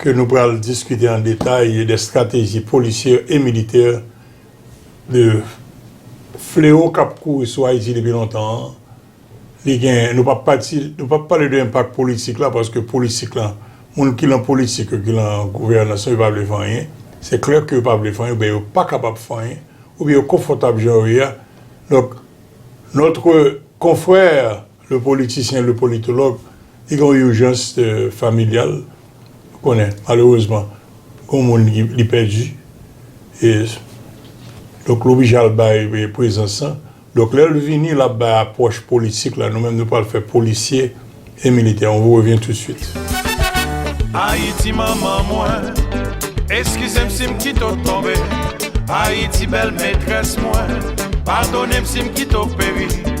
ke nou pral diskite an detay de strateji polisyè e militè de flewo k ap kouri sou Ayiti depi lontan an. Li gen, nou pa pati, nou pa pale de enpak politik la paske politik la, moun ki lan politik yo, ki lan gouvènans yo, yo pa vle fè anyen. Se klè ke yo pa vle fè anyen oubyen yo pa kapab fè anyen oubyen yo konfòtab jan yo ye a. Donk, notre confrère. Le politicien, le politologue, li gen yon urjans familyal, ou konnen, malerezman, gon moun li pèdi, e, donk l oblije al bay prezans lan, donk lè l vini l ap bay apwòch politik la, nou menm nou pral fè polisye e militè, on vous revient tout de suite. Ayiti manman mwen, eskize m si m kite w tonbe, Ayiti bèl metrès mwen, padone m si m kite w peri.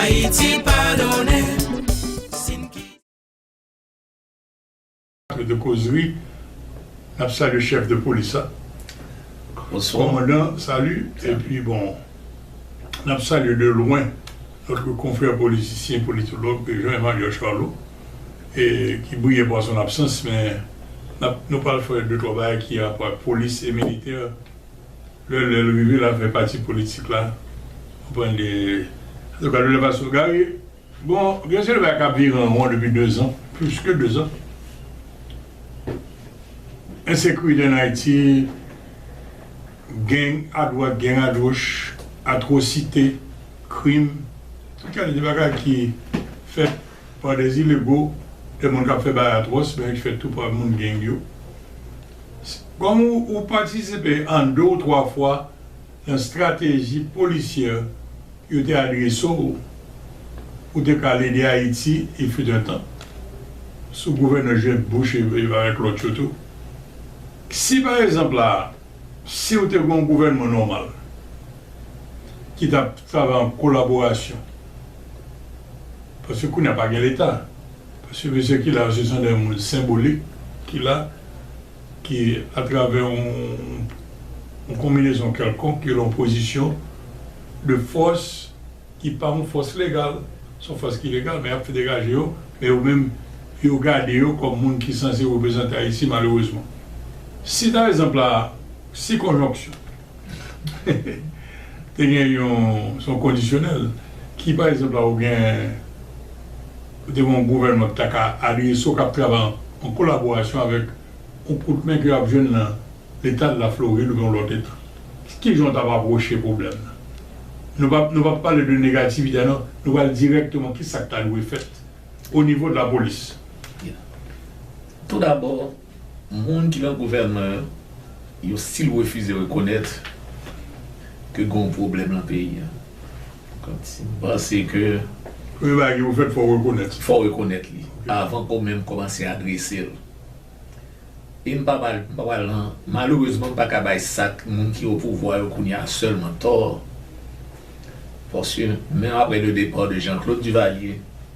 Ayiti pa donnen si n ki. Plato de kozri nap salye chef de polis la komandan salut epi bon nap salye de lwen notre konfrè politisyen politològ Jean Emmanuel Charlot ki briye par son absans men nou pral fè de twa bagay ki gen rapò ak polis e militè Lè lè l rive la fè pati politik la ou pran de antouka lè lè pa sou gari bon gen seri de bagay kap vire an ron depi 2 zan plis ke 2 zan ensekirite an ayiti geng a dwat geng a goch atwosite krim tout kalite bagay ki fèt pa de zilego de moun kap fè bagay atwòs men ki fèt tou pa moun geng yo. Kòm ou patisipe an de ou twa fwa nan strateji polisyè yo te adrese w, ou te ka al ede Ayiti, il fut un temps, sou gouvènman Jeb Bush avèk lòt yo tou. Si pa egzanp la a, si ou te gen yon gouvènman nòmal ki t ap travay an kolaborasyon, paske kounye a pa gen Leta, paske mesye ki la yo se san dè moun senbolik ki la, ki atravè yon konbinezon kèlkonk ki lan pozisyon de fòs ki pa yon fòs legal, se yon fòs ki legal men y ap fè degaje yo, men yo menm yo gade yo kòm moun ki sanse reprezante Ayiti malerezman. Si ta ezanp la si konjonksyon. Te gen yon son kondisyonèl ki pa egzanp la ou gen ou te gen yon gouvènman ki ta ka aliye so kap travay an kolaborasyon avèk yon kout men ke yap jwenn nan leta de la Floride oubyen yon lòt eta. Ki jan ou tap apwoche pwoblèm nan? Nou pa nou pa pale de negativite non, nou pral dirèkteman ki sak ta dwe fèt o nivo de la polis. Tou dabò Moun ki nan gouvènman an yo stil refize rekonèt ke gen yon pwoblèm lan peyi an. M panse ke. Premye bagay ki pou fèt, fò w rekonèt li. Fò w rekonèt li avan ke w menm kòmanse adrese l. E m pa pral, m pa pral nan, malerezman m pa ka bay sa k, moun ki opouvwa yo kounye a sèlman tò. Paske menm aprè le départ de Jean Claude Duvalier.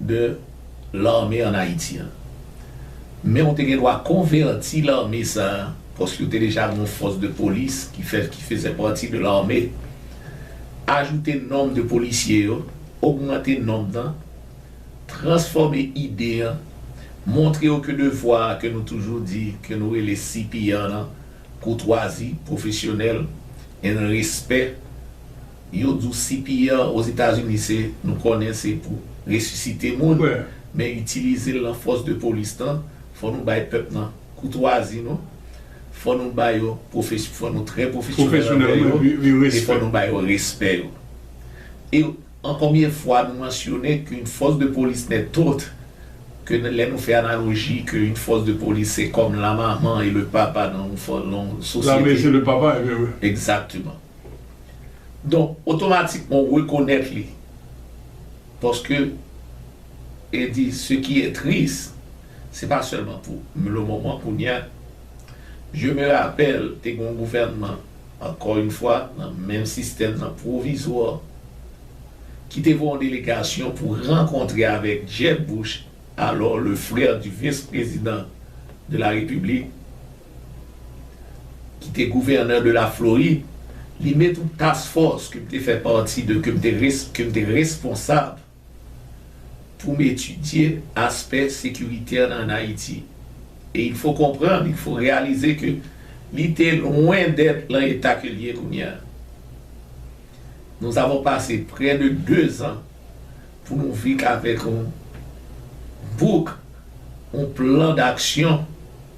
de l'armée en Haïti an. Men ou te gen dwa konvèti l'armée sa paske ou te deja gen yon force de police ki fè ki fezè pati de l'armée. Ajoute nomb de policier yo, ogmante nomb nan, transfòme ide an, montre yo ke devwa a ke nou toujou di ke nou rele CPR nan, koutwazi, profesyonèl and respè Yo di w CPR Ozetazini se, nou konnen se pou resisite moun, men itilize l lan fòs de polis lan, fò nou bay pèp nan koutwazi nou, fò nou ba yo, fò nou trè pwofesyonèl anvè yo, e fò nou ba yo respè yo. E an konbyen fwa nou mansyone ke yn fòs de polis nèt ot, ke lè nou fè analoji ke yn fòs de polis se kòm la maman e le papa lan yon sosyete. Lame se le papa, e byen wi. Egzakteman. Donk, otomatikman ou rekonèt li. Paske, e di, se ki e tris, se pa sèlman pou le moman kounye a. Je me rapèl, te gen yon gouvènman, ankò yn fwa, nan menm sistèm nan, pwovizwa, ki te voye yon delegasyon pou rankontre avèk Jeb Bush, alò le frère du vice-président de la République, ki te gouvènè de la Florid, li met yon task force ke m te fè pati de, ke m te res, ke m te responsab pou m etidye aspè sekiritè nan an Ayiti. E il fo konprann, il fo reyalize ke li te lwen dèt lan eta ke l ye kounye a. Nous avons passé près de 2 ans pou nou vik avèk yon book, yon plan d'action.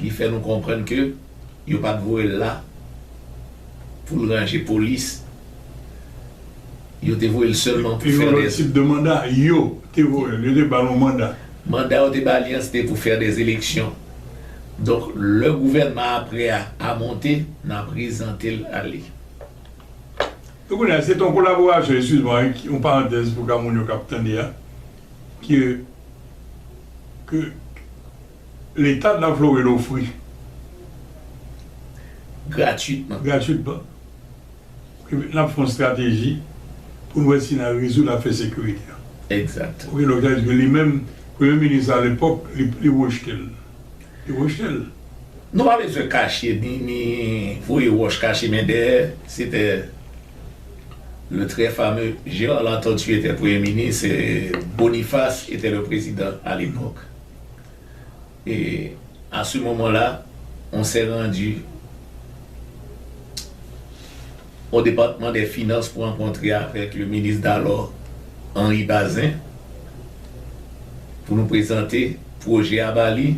Li fè nou konprann ke yo pat voye l la pou l ranje polis. Yo te voye l sèlman pou fè dè. Se yon lòt tip de manda. Yo te voye l. Yo te ba l yon manda. Manda yo te ba li an se te pou fè dè eleksyon. Donk lè gouvènman apre a a monte, n a prezante l a li. E kounye a, se te yon kolaborasyon, eskiz mwa, yon parantèz pou ka moun yo k ap tande a, ke, ke. Leta nan Florid ofri. Gratwitman. Gratwitman. Ke n ap fè yon estrateji pou n wè si n a rezoud afè sekirite a. Egzat. Ok, donk sa vle di ke li menm, premye minis la alepòk, li rejte l. Li rejte l. Nou pa bezwen kache ni, ni voye wòch kache men dèyè. Se tè le trè fame Gérard Latortue etè premye minis e Boniface etè le prezidan alepòk. E a se moman la, on sè randi o depatman dè finans pou rankontre avèk le minis dalò Henri Bazin pou nou prezante pwojè a ba li,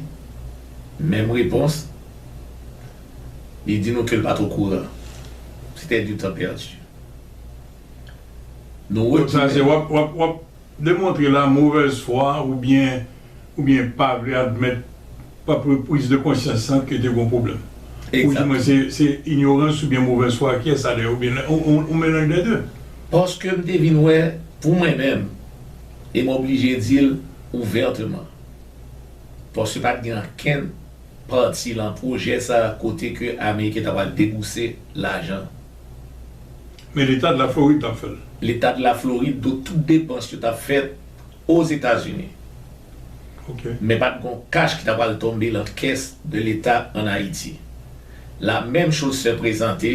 menm repons, li di nou ke l pa t okouran. Sete du tan perdu. Nou retounen. Demontre la movèz fwa ou byen ou byen pa vle admèt apre priz de konsyans lan ke te gon pwoblèm. Ou di mwen se se inyorans ou byen movèz fwa kiyès sa dèyè ou byen on melanj dè de. Paske m te vin wè pou mwen menm e m oblije di l ouvèteman. Paske pa t gen ankenn pati lan pwojè sa kote ke Ameriken ta pral debouse lajan. Men Leta de la Floride tap fèl. Leta de la Floride do tout depans yo tap fèt Ozetazini. Ok. Men pat gon kach ki ta pral tonbe lan kès de Leta an Ayiti. La menm choz se prezante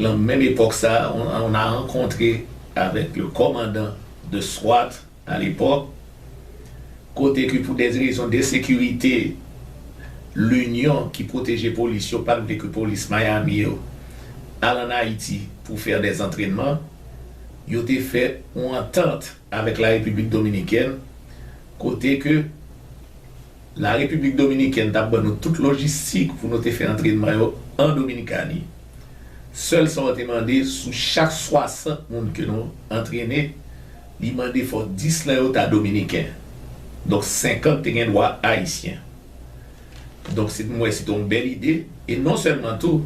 lan menm epòk sa a on a rankontre avèk le kòmandan de swat. Nan lepòk kote ke pou dè rezon dè sekirite, Linyon ki pwoteje polis yo pat vle ke polis Miami yo al an Ayiti pou fè dè antrènman, yo te fè yon antant avèk la Repiblik Dominikèn kote ke la Repiblik Dominikèn tap ban nou tout lojistik pou nou te fè antrènman yo an Dominikani. Sèl sa yo te mande sou chak 60 moun ke nou antrene, Li mande fò 10 nan yo ta dominiken. Donk 50 te gen dwa ayisyen. Donk se mwen se te yon bèl ide. E non sèlman tou,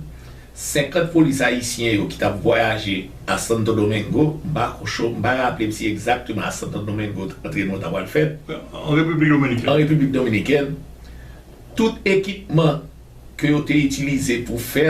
50 polis ayisyen yo ki t ap vwayaje a Santo Domingo, m pa cho, m pa raple m si egzakteman a Santo Domingo antrenman ta pral fèt. An Repiblik Dominikèn. An Repiblik Dominikèn. Tout ekipman ke yo te itilize pou fè.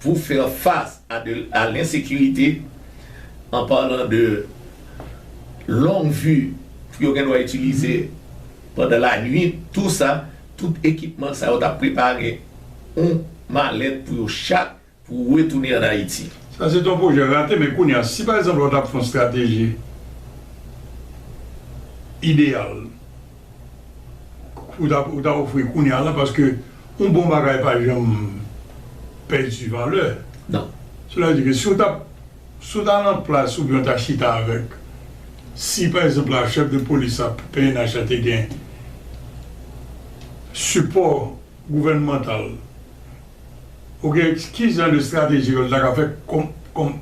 pour faire face à de à l'insécurité en parlant de longue vue pou yo gen dwa itilize pandan lanwit tou sa tout ekipman sa yo ta prepare yon malèt pou yo chak pou retounen an Ayiti. Sa se te yon pwojè rate men kounye a si pa egzanp la yo ta fè yon strateji ideyal. ou ta ofri kounya la paske yon bon bagay pa janm pèdi valè. Sela di ke si ou ta si ou ta lan plas ou byen ou ta chita avèk si pa egzanp la chèf de polis la pnh la te gen sipò gouvènmantal ou gen ki jan de estrateji ke l ta ka fè kòm kòm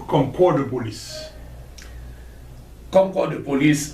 kòm kò de polis? Kòm kò de polis.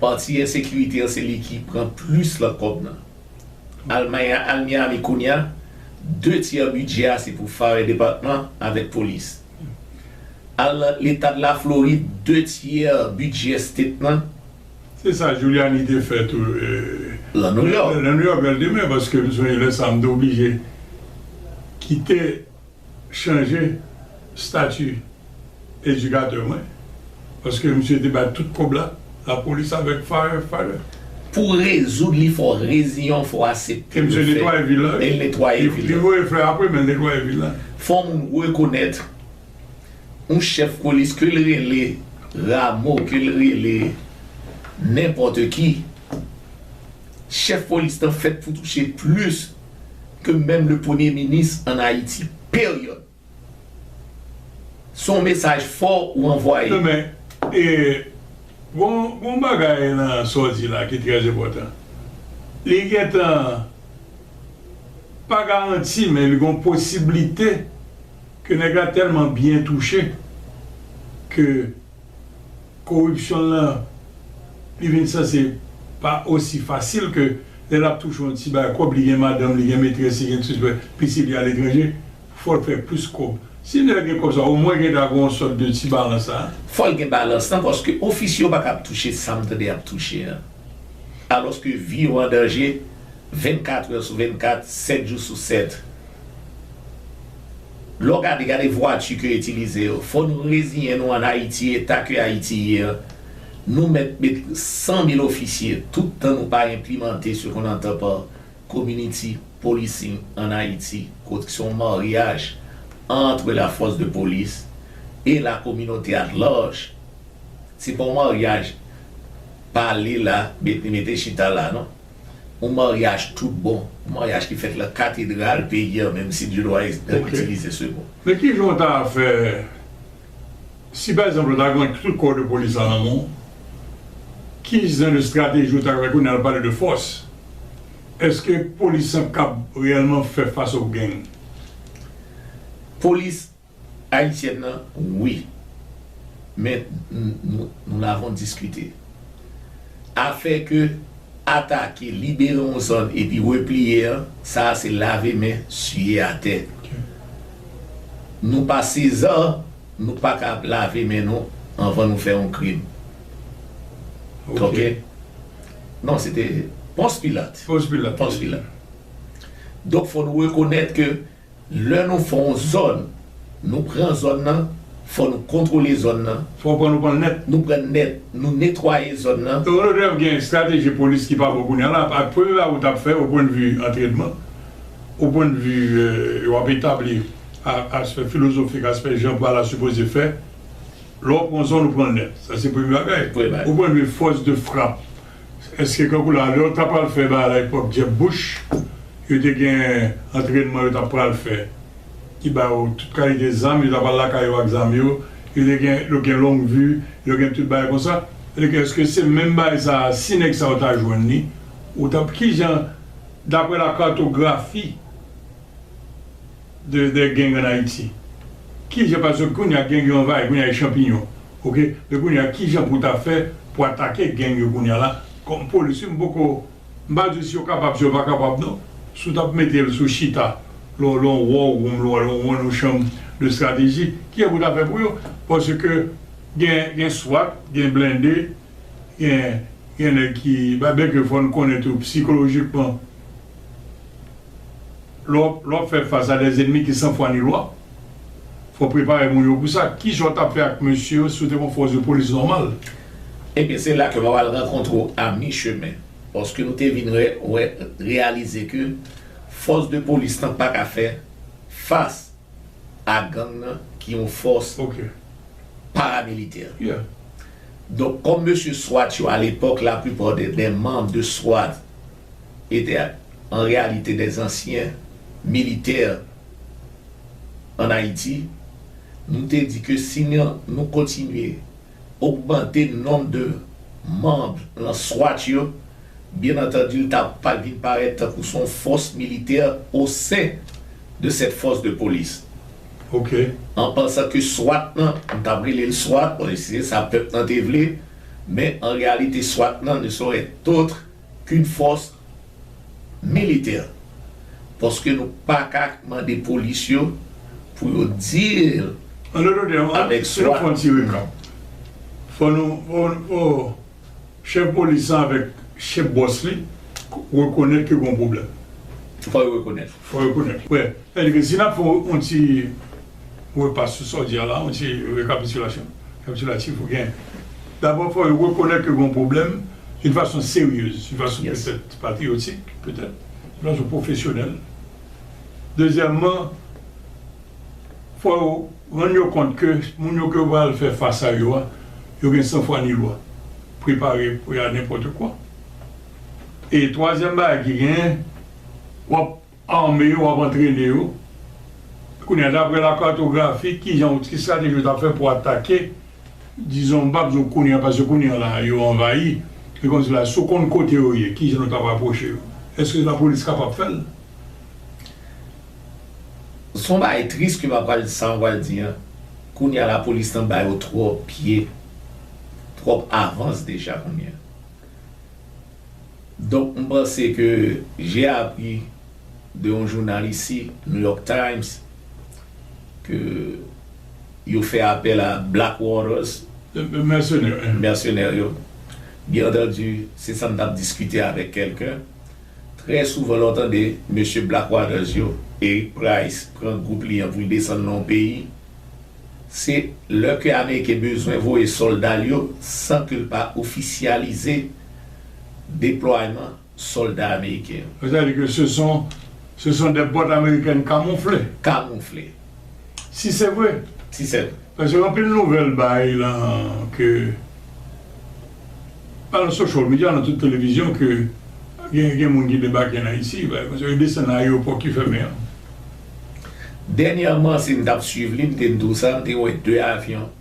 Pati ensekirite an se li ki pran plis lan kòb nan. Almay a al Miami kounye a, de tyè bidjè a se pou Fire Department avèk Polis. Al Letad Laflorid, de tyè bidjè State nan. Se sa Giuliani te fè tou lan Nouyòk. Lan Nouyòk lè l te mennen paske m sonje lè sa a m te oblije kite. chanje stati edikatè mwen paske misye te bay tout kòb la lapolis avèk fire fire. Pou rezoud li fò reziyen w fò asepte l fè e l netwaye vil la. Li voye fè apre men l netwaye vil la. Fò moun rekonèt yon chèf polis ke l rele Ramo ke l rele nenpòte ki chèf polis nan fèt pou touche plis. ke menm le premye minis an ayiti period. Son mesaj fò ou anvwaye. Nan men, e gon yon bagay nan sa w di la ki trè enpòtan. Li gentan pa garanti men li gon posiblite ke nèg la tèlman byen touche ke Koripsyon lan li vin sanse pa osi fasil ke lè l ap touche yon ti bay kòb, li gen madanm, li gen metrès, li gen tzpè, pitit li aletranje, fò l fè plis kòb. Si nèg la gen kòb sa, omwen gen ta gen yon sòt de ti balans la. Fò l gen balans lan paske ofisye yo pa ka ap touche sa m tande y ap touche an. Alòske vi yo an danje 24 è sou 24, 7 jou sou 7. Lè w gade, gade vwati ke yo itilize yo. Fò nou reziyen nou an Ayiti, eta ke Ayiti ye an, nou mèt met 100 mil ofisye, tout tan nou pa enplimante se kon antan pa community policing an Ayiti, kot ki se yon maryaj antre la fòs de polis e la kominote at larj. Se pa yon maryaj pale la, mete chita la non. Yon maryaj tout bon, yon maryaj ki fèt lan katedral peyi an menm si Dieudroid's te itilize se mo. Men ki jan w ta fè si pa egzanp ou ta gen tout kò de polis lan nan men w, ki jan de estrateji ou ta fè kounye a l pale de fòs, èske polis lan kab reyèlman fè fas o geng? Polis Ayisyèn nan wi men nou n avon diskite afè ke atake libere yon zòn epi repliye an sa a se lave men siye atè nou pa sezan nou pa ka ap lave men nou anvan nou fè yon krim ok non se te pons pilat donk fò nou rekonèt ke Lè nou fè yon zòn, nou pran zòn nan, fò nou kontwole zòn nan. Fò pran nou pran l nèt. Nou pran l nèt, nou netwaye zòn nan. Rodolphe gen estrateji polis ki pa bon kounye a la ak premye bagay ou t ap fè o pwen de vi antrenman, o pwen de vi w ap etabli aspè filozofik, aspè jan pa la sipoze fè. Lè w pran yon zòn ou pran l nèt. Sa se premye bagay. O pwen de vi fòs de frap. Eske kankou la lè yo ta pral fè bagay pwòp dyèb bouch yo te gen antrènman yo ta pral fè ki ba yo tout kalite zam yo ta pral lakay yo ak zam yo yo te gen yo gen long vi yo gen tout bagay konsa vle ke eske se menm bagay sa si nèg sa yo ta jwenn li ou tap kijan daprè la kartografi. de de gang an ayiti kijan paske kounya gang yo anvayi kounya e chanpiyon ok e kounya kijan pou ta fè pou atake gang yo kounya la kòm polis wi m poko m pa di si yo kapab si yo pa kapab non si w tap metel sou chita lon lon war room lon lon lon lon chanm de strateji kijan pou ta fè pou yo paske gen gen swat gen blende gen gen nèg ki ba bèk yo fòn konnen tou psikolojikman. Lè w ap fè fas a des ennemis ki san fwa ni lwa, fò w prepare moun yo pou sa. Ki jan w t ap fè ak mesye yo si w te konn fòs de polis nòmal? Ebyen se la ke wap al rankontre w a mi chemen, paske nou te vin wè, reyalize ke fòs de polis lan pa ka fè fas a gang nan ki yon fòs paramilitè. Donk kòm mesye swat yo a lepòk la plupart des membres de swat. e te an reyalite de zansyen militè an Ayiti, nou te di ke si nou kontinye ogmante nonb de manb lan swat yo, byen antandi l ta pral vin parèt tankou s on fòs militè o sen de sèt fòs de polis. Ok. An pansan ke swat lan, m t ap rele l swat, bon se sa pèp lan te vle, men an reyalite swat lan ne saurait être Kud fòs militè paske nou paka mande polis yo pou yo deal An dotò tèm, an avèk si nou swa. pran tire kap, fò nou fò chèf polis lan avèk chèf bòs li rekonèt ke gon pwoblèm. Fò yo rekonèt. Fò yo rekonèt. Wè, sètadi ke si n ap fè yon ti. Wè pa sousòl di a la, yon ti rekapitilasyon, rekapitulatif ou gen. Dabò fò yo rekonèt ke gen yon pwoblèm yon fason seryez, yon fason petèt patriyotik, petèt, yon fason pwofesyonèl. Dezyèmman, fò yo rann yo kont ke moun yo ke yo pral fè fas a yo a, yo gen san fwa ni lwa. Prepare pou y a nenpòt kwa. E twazyèm bagay ki genyen, w ap Ame yo ap antrene yo. Kounye a, dapre lakartografi, ki jan ou, ki estrateji ou ta fè pou atake, dizon, m pap di w kounye a, paske kounye a la, yo anvayi, li konn di la, si w konn kote yo ye, ki jan nou t ap apwoche yo? Èske lapolis kapab fè l? Se yon bagay tris ke m ap pral, sa m pral di an. Kounye a, lapolis nan ba yo twòp pye, twòp avans deja kounye a. Donk m panse ke j'ai appris de yon jounal isi, New York Times, ke yo fè apèl a Black Waters, mèsenè yo, byen antandu se sa m t ap diskite avèk kèlken, trè souvan lè w tande mesye Black Waters yo, Eric Price pran gwoup li an pou l desann nan yon peyi, se lè ke ameriken bezwen voye sòlda l yo san ke l pa ofisyalize. deplwayman sòlda ameriken yo. Sa vle di ke se son se son dè bòt amerikèn kamoufle. Kamoufle. Si se vre. Si se vre. Paske anpil nouvèl bay lan ke pa lan social media lan tout televizyon ke gen gen moun ki debake an Ayiti bagay konsa yo desann nan ayewopò ki fèmen an. Dènyèman si m tap swiv li m te n tou sa m te wè 2 avyon.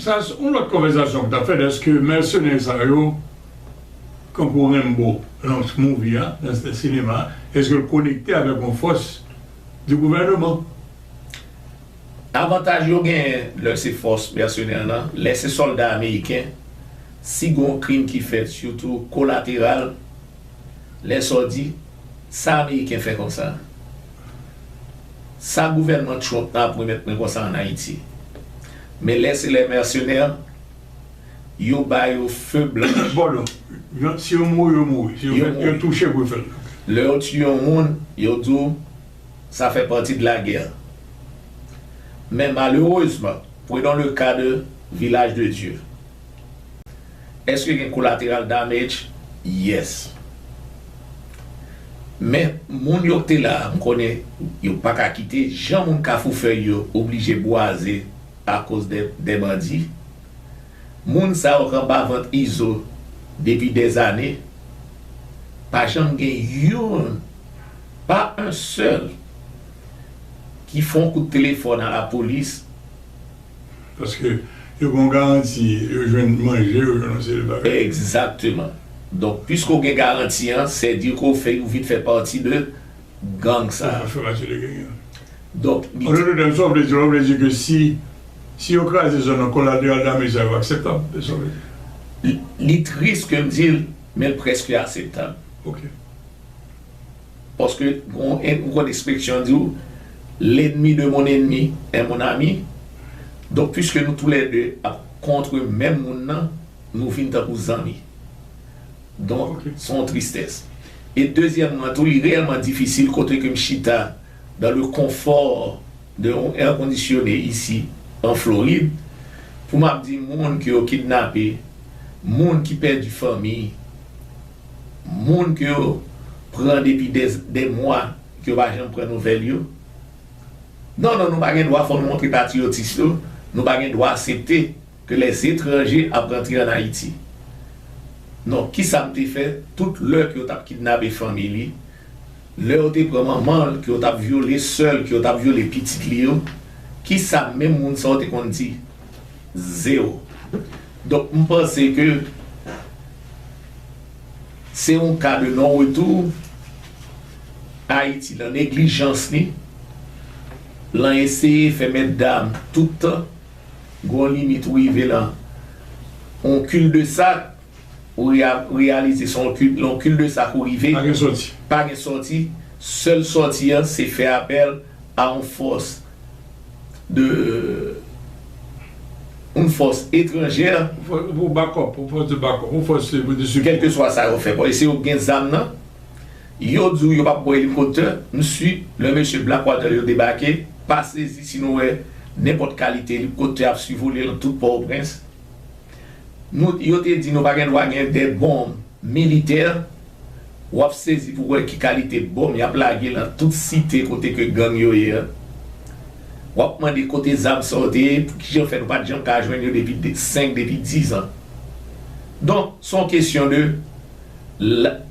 Sa se yon lòt konvèzasyon ki ta fèt eske mèsenè sa yo kankou Rembo nan movie a, nan sinema a, eske l konekte avèk yon fòs di gouvèneman. Avantaj yo genyen lè se fòs mèsenè lan, lè se sòlda ameriken, si gen yon krim ki fèt sitou kolateral, Lèsaw di sa ameriken fè konsa sa gouvènman Trump nan ap remèt mwen konsa an Ayiti men lè se lè mèsenè yo ba yo feu blan. Bolo, yon si yo mouri yo mouri, si yo fèt yo touche pou yo fèt ok. Lè yo tiye yon moun yo di w sa fè pati de la guerre men malerezman prenons le cas de village de Dieu. Eske gen collateral damage? Yes. Men moun yo k te la a m konnen yo pa ka kite jan moun kafou fèy yo oblije bwaze akoz de bandi. Moun sa yo k anba vant Izo depi dèzane pa janm gen youn pa un sèl ki fon kout telefòn a lapolis. Paske yo ban w garanti, yo jwenn manje, yo jwenn yon seri de bagay. Egzakteman. Donk, piske w gen garanti an, sè di ke w fè ou vin fè pati de gang sa a. Ou fè pati de gang an. Donk, li. An doutè tèm, sa w vle di la, w vle di ke si, si yo kraze zòn nan, kolateral damage sa yo akseptab? Se sa w vle di? Li tris ke m di l, men l prèske aseptab. Ok. Paske ou konn ekspresyon an di ou, L'ennemi de mon ennemi est mon ami. Donk piske nou tou lè de ap kontre menm moun nan, nou vin tankou zanmi. Donk se yon tristès. E dezyèmman tou li reyèlman difisil kote ke m chita dans le confort de yon air conditionné ici en Floride pou m ap di moun ke yo kidnape, moun ki pèdi fanmi. moun ke yo pran depi dè mwa ke yo pa janm pran nouvèl yo. Non, non, nou pa gen dwa fò nou montre patriyotis yo, nou pa gen dwa asepte ke lè etranje ap rantre an Ayiti. Non, ki sa m te fè tout lè ke yo tap kidnape fanmi li, lè yo te pran manman l, ke yo tap vyole sè l, ke yo tap vyole pitit li yo, ki sa menm moun sa yo te konn di? Zero. Donk m panse ke se yon ka de non retou, Ayiti nan neglijans li, lan eseye fè mèt dam tout tan, gen yon limit ou rive lan yon kil de sak, ou reyalize se lan kil de sak ou rive, pa gen sòti, sèl sòti an se fè apèl a yon fòs. de oun fòs etranjè. Pou bakòp, oun fòs de bakòp, oun fòs de sipò. Kèlkeswa sa yo fè, bon, e se yo ki gen zam nan, yo di w yo pa pran elikoptè, msi, lè mesye Blackwater yo debake, pa sezi si nou wè nenpòt kalite elikoptè ap sivole nan tout Pòtoprens. Nou, yo te di nou pa gen dwa gen de bonm. Militè, wap sezi pou wè ki kalite bonm yap lage lan tout site kote ke gang yo ye an. Wap mande kote zam sa yo te ye, pou kijan fè nou pat janm ka jwenn yo depi 5, depi 10 an. Donk, son kesyon de,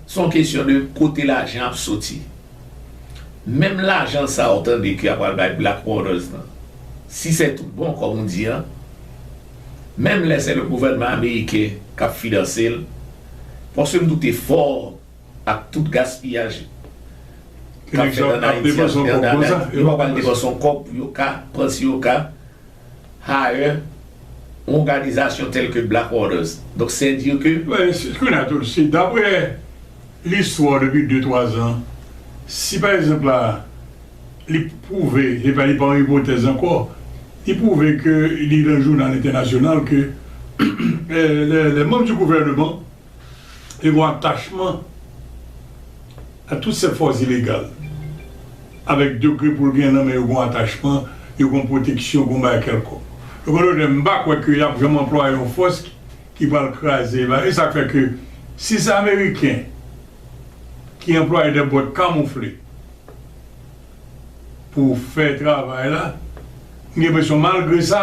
son kesyon de kote lajan ap soti. Menm lajan sa ou tande ke yap pral bay Black Waters lan, si sè tout bon, kòm ou di an, menm lè se le gouvènman ameriken kap finanse l, paske m doute fò ak tout gaspiyaj kap fèt an Ayiti ak an Dada, yo pa pral depanse yon kòb pou yo ka pran si yo ka hire yon òganizasyon tèlke Black Waters. Donk sè dire ke. Kounye a tou, si daprè listwa w depi de twa zan, si pa egzanp la. Li pwouve, se pa li pa yon ipotèz ankò, li pwouve ke li nan jounal entènasyonal ke les membres du gouvernement te gen yon atachman a tout sèt fòs ilegal avèk degre pou l gen nan men yo gen yon atachman, yo gen yon pwoteksyon, gen yon bagay kèlkonk. Donk an dòt tèm, m pa kwè ke y ap janm anplwaye yon fòs ki pral kraze va, e sa k fè ke si se ameriken ki anplwaye dè bòt kamoufle, pou fè travay la, m gen presyon malgre sa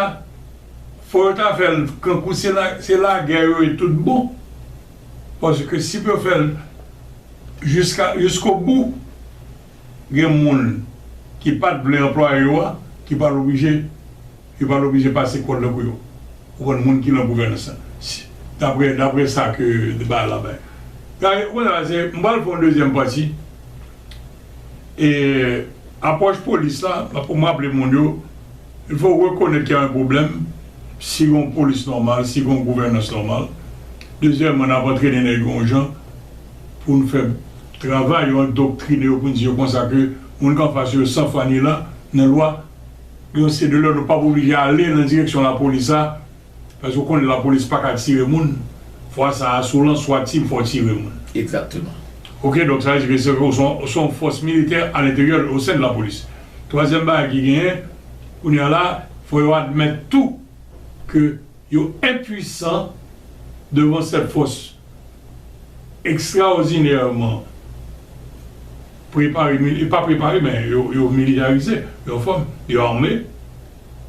fò yo ta fèl kankou se lagè yo ye tout bon, paske si yo fèl jiska jiskobou gen moun ki pat vle anplwaye yo a ki pral oblije yo pral oblije pase kòd nan kou yo ou konn moun ki nan gouvènans la dapre dapre sa ke de bay la bay m pral fè yon dezyèm pati. E apwòch polis la, mwen pou m raple moun yo, il fò rekonèt ke y a un pwoblèm, si gon polis nòmal, si gon gouvènans nòmal. Dezyèmman, n ap antrene nèg yo yon jan pou n fè travay yo, andoktrine yo pou n di yo konsa ke moun k anfas yo san fwa ni lan nan lwa. Donk se de lò nou p ap oblije ale nan direksyon lapolis la. Paske ou konnen lapolis paka tire moun, fwa sa a se w lan swat team fè w tire moun. Exactement. Ok donk sa vle di ke se ou se yon fòs militè a lenteryè o sen de la polis. Twazyèm bagay ki genyen kounye a la fò yo admèt tou ke yo enpuisan devan sèt fòs ekstraòdinèman prepare, pa prepare men yo militarize, yo an fòm, yo ame.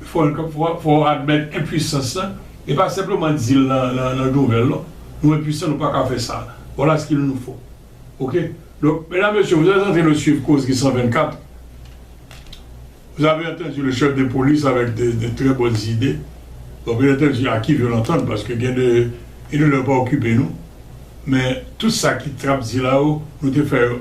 Fò w admèt enpuisans la, e pa senpleman di l nan nouvèl non, nou enpuisan nou paka fè sa, voilà ce qu'il nous faut ok donc mesdames messieurs vous êtes entrain de suivre causerie 124 vous avez entendu le chef de police avec de très bonnes idées bon bien entendu à qui veut l'entendre parce que gen de une lè yo pa okipe nou men tout sa ki t ap di la yo nou te fè yo.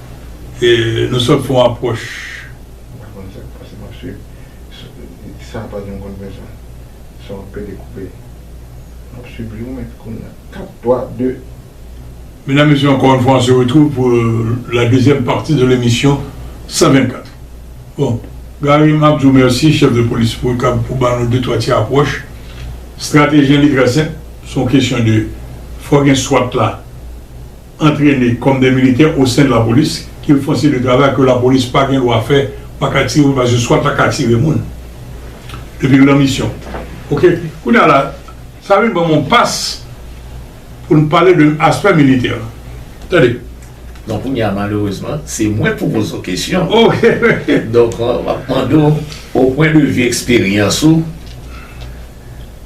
nou sot fon apwòch. M pa konn sa k pase m ap swiv sa pa janm konn fè sa son an pede koupe m ap swiv li ou menm kounya 4 3 2. Medam mesye ankò yon fwa on se retrouve pou la dezyèm pati de lemisyon 124 bon Gary m ap di w mèsi chèf de polis pou kab pou ba nou de twa ti apwòch strateji an li trè senp son kesyon de fò gen swat la antrene kòm dè militè o sen de la polis ki l fon se de travay ke la polis pa gen dwa fè pa ka tire moun paske swa ta ka tire moun depi l nan misyon ok kounye a la sa vin ban m on pas pou n pale de aspè militè lan tande. Donk kounye a malerezman se mwen pou poze w kesyon ok donk m ap mande w o pwen de vi eksperyans ou.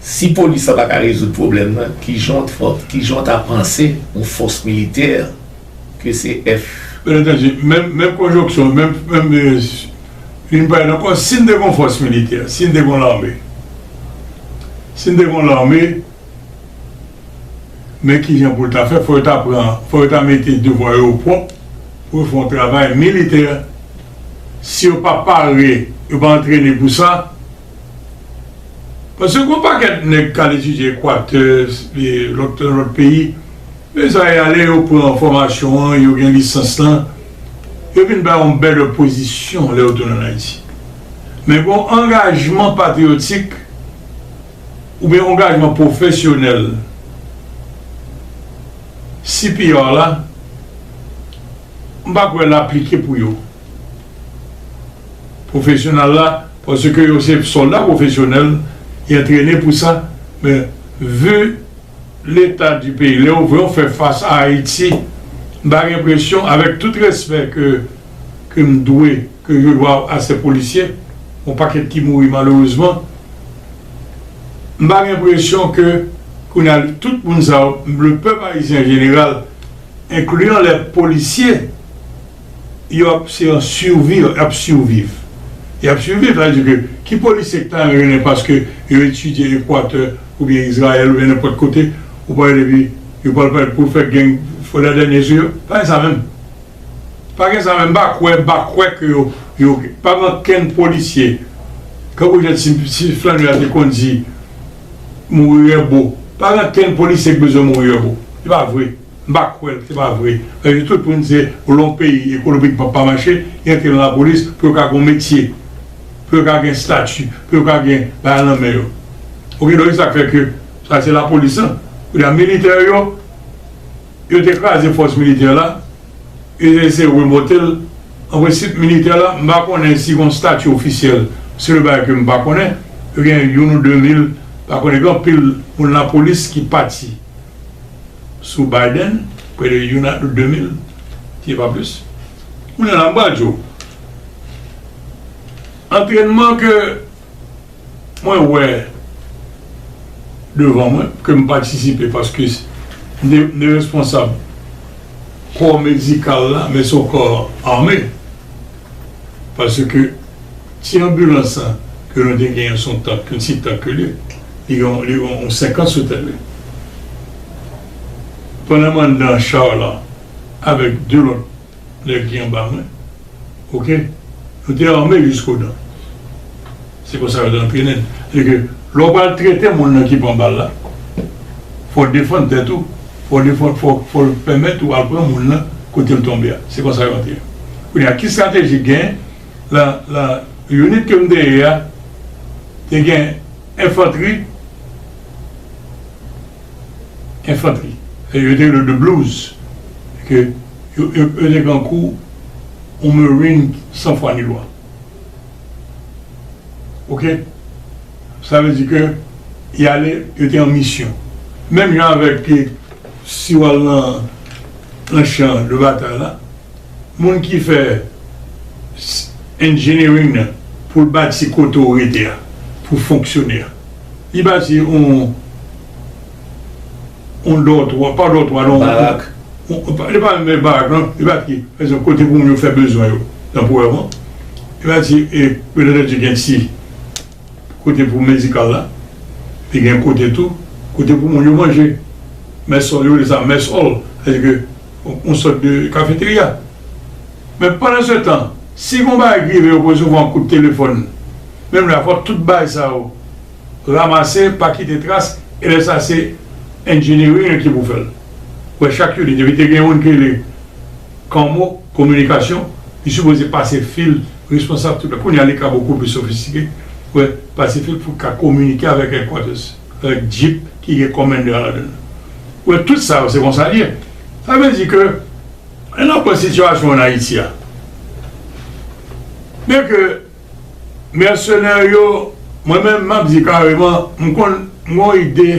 Si polis la pa ka rezoud pwoblèm nan, kijan w t fè, kijan w ta panse yon fòs militè ke se F. Byen antandu, menm, menm konjonksyon, menm, menm, vin pale nan kò, si n te gen yon fòs militè, si n te gen yon lame, si n te gen yon lame, men kijan pou l ta fè, fò yo ta pran, fò yo ta mete devwa yo opwòp pou yo fè yon travay militè, si yo pa pare, yo pa antrene pou sa. Paske gon pakèt nèg kal etidye ekwatè lòt nan lòt peyi men sa yo ale yo pran fòmasyon an yo gen lisans lan yo vin bay yon bèl pozisyon lè yo tounen an ayiti men gon angajman patriyotik oubyen ongajman pwofesyonèl cpr la m pa kwè l aplike pou yo pwofesyonal la. Paske yo se sòlda pwofesyonèl, y antrene pou sa, men vu leta di peyi, lè ou vè ou fè fas a Ayiti, m pa gen enpresyon, avèk tout respè ke ke m dwe, ke je dwa a sè polisye, yon pakèt ki mouri malerezman, m pa gen enpresyon ke kounye a tout moun sa yo, le pèp ayisyen an jeneral, enkliyan lè polisye. yo ap se yon survi yo ap surviv yo ap surviv sa vle di ke ki polisye ki ta renmen vin paske yo etidye ekwatè oubyen izrayèl oubyen nenpòt kote ou pa wè depi yo pral pale pou fè geng fò la dènye sou yo pa gen sa menm pa gen sa menm m pa kwè m pa kwè ke yo yo pa gen okenn polisye kankou jan ti ti flannè a te konn di mouri rèbo pa gen okenn polisye ki bezwen mouri rèbo se pa vre. M pa kwèl se pa vre paske tout moun se lè yon peyi ekonomikman pa mache yo antre nan lapolis pou yo ka gon metye pou yo ka gen stati pou yo ka gen bagay nan men yo ok donk se sak fè ke sa se lapolis lan kounye a militè yo yo te kraze fòs militè la yo te eseye remonte l an prensip militè la m pa konnen si gon stati ofisyèl se yon bagay ke m pa konnen yo gen youn ou de mil m pa konnen gen anpil moun lapolis ki pati. sou Biden, prè de youn a de mil, si se pa plis. Kounye a la, m pral di w, antrènman ke mwen wè devan mwen, ke m patisipe paske m te responsab kò medikal la, men se yon kò ame, paske Ti anbilans sa ke nou te genyen son tank, yon ti tank li ye, li gen yon li gen yon 50 sou tèt li. Pandan m anndan char la avèk 2 lòt nèg ki anba mwen ok, nou te arme jisko dan. Se konsa yo te antrennen n. Se ke lè w pral trete moun nan ki pran bal la, fò w defann tèt ou, fò w defann fò w fò w pèmèt ou al pran moun nan kote l tonbe a. Se konsa yo antre. Kounye a ki strateji k genyen? Nan unit ke m te ye a, te gen enfantri, enfantri, yo te rele yo de blues, ke yo te kankou yon marine san fwa ni lwa. Ok? Sa vle di ke y ale, yo te an misyon. Menm jan avèk ke si w al nan chan de batay la, Moun ki fè engineering nan pou l bati kote ou rete a pou fonksyone a. Li bati on on dòtwa, pa dòtwa non. Barak. Li pa menm barak non. Li bati pa egzanp kote pou moun yo fè bezwen yo tanporèman. Li bati e petèt gen ti. Kote pou medikal la, li gen kote tou kote pou moun yo manje. Mess hall, yo rele sa mess hall, sa vle di ke yon sòt de kafeterya. Men pandansetan, si gon bagay ki rive yo pou resevwa yon kout telefòn, menm lè a fò tout bagay sa yo ramase, pa kite tras, e lè sa se engineering an ki pou fè l. Ou wè chak unit, depi te gen yon moun ki rele Commo, kominikasyon, li sipoze pase fil. responsab tout la. Kounya li ka bokou pli sofistike wè pasifik pou ka kominike avèk headquarters avèk jeep ki gen commander an ladann. Ou wè tout sa yo se konsa li ye. Sa vle di ke lè nap pran sitiyasyon an Ayiti a byen ke mèsenè yo mwen menm map di kareman m konn m gon ide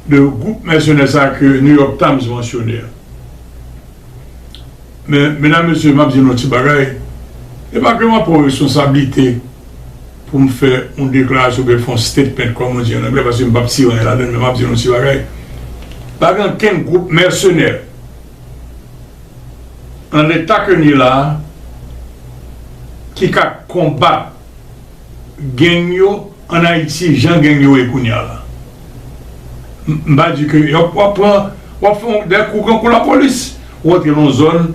de gwoup mèsenè sa ke New York Times mansyone a. Men, medam, mesye, m ap di nou yon ti bagay, e pa ke m ap pran reskonsablite pou m fè yon deklarasyon oubyen fè yon statement, kòm nou di an anglè, paske m p ap tire anyen ladan l, men m ap di nou yon ti bagay, pa gen ankenn gwoup mèsenè nan leta ke n ye la a ki ka konbat gang yo. An Ayiti jan gang yo ye kounya la m pa di ke yo wap pran wap fè yon dè kou kankou lapolis ou antre nan yon zòn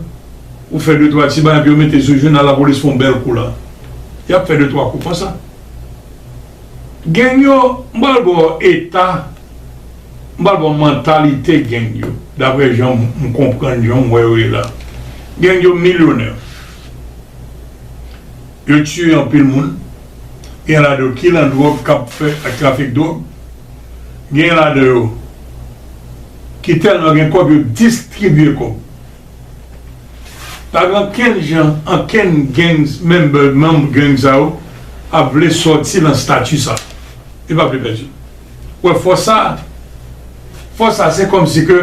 ou fè de twa ti bagay epi yo mete sou jounal lapolis fè yon bèl kou la yap fè de twa kou konsa gang yo m pral ba w eta m pral ba w mantalite gang yo daprè jan m konprann jan m wè yo ye la gang yo milyonè yo tiye anpil moun. Gen ladan yo ki nan dwòg k ap fè ak trafik dwòg. Gen ladan yo ki tèlman gen kòb yo distribye kòb. Pa gen ankenn jan ankenn gangs member, manm gang sa yo ap vle sòti nan stati sa. Yo pa vle pèdi. Ou wè fòs sa a? Fòs sa a se kòm si ke